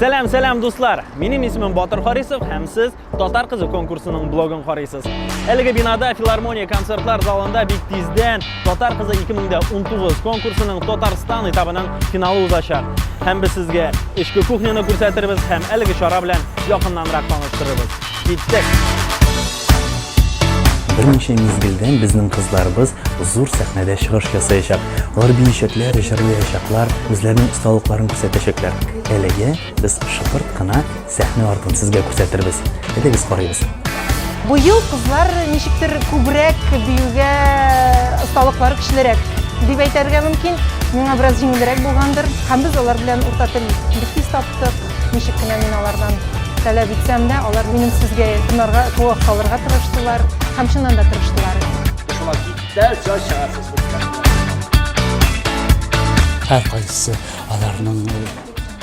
Сәлам, сәлам дуслар! Минем исемем Батыр Харисов һәм сез Татар кызы конкурсының блогын карыйсыз. Әлеге бинада филармония концертлар залында бик тиздән Татар кызы 2019 конкурсының Татарстан этабының финалы узачак. Һәм без сезгә эчке кухняны күрсәтербез һәм әлеге чара белән якыннанрак таныштырырбыз. Киттек! Берничә мизгелдән безнең кызларыбыз зур сәхнәдә чыгыш ясаячак. Алар биючәкләр, җырлаячаклар, үзләренең осталыкларын күрсәтәчәкләр. Әлегә без шыпырт кына сәхнә артын сезгә күрсәтербез. Әйдәгез карыйбыз. Бу ел кызлар ничектер күбрәк биюгә осталыклары көчлерәк дип әйтәргә мөмкин. Миңа бераз җиңелрәк булгандыр. Һәм без алар белән урта тел бик тиз таптык. Ничек кенә мин алардан таләп итсәм дә, алар минем сезгә тыңларга, куак калырга тырыштылар һәм чыннан да тырыштылар. Шуңа киттә җай чыгарсыз. Һәр кайсы аларның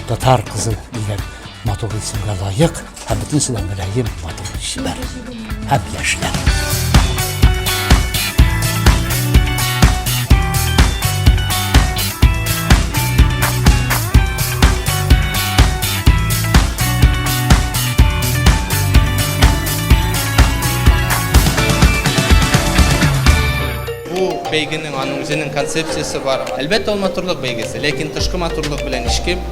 татар кызы дигән матур исемгә лаек һәм бөтенесе дә мөлаем матур чибәр. һәм яшьләр. бәйгенең аның үзенең концепциясе бар. Әлбәттә, ул матурлык бәйгесе, ләкин тышкы матурлык белән ишкеп,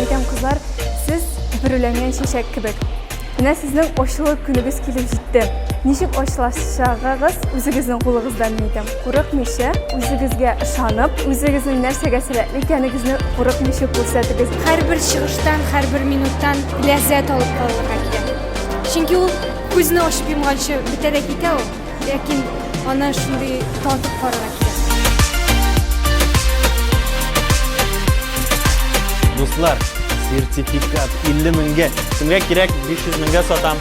Әйдәм кызлар, сез бөреләнгән чәчәк кебек. Менә сезнең очлы көнегез килеп җитте. Ничек очлашчагыгыз үзегезнең кулыгыздан әйтәм. Курыкмыйча, үзегезгә ышанып, үзегезнең нәрсәгә сәләтле икәнегезне курыкмыйча күрсәтегез. Һәрбер чыгыштан, һәрбер минуттан ләззәт алып калырга кирәк. Чөнки ул күзне ачып йомганчы бетә дә китә ул. Ләкин аны шундый татып карарга кирәк. Дуслар, сертификат 50 меңгә. Кемгә кирәк 500 меңгә сатам.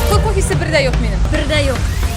Кыл кофесе бер дә юк минем. Бер дә юк.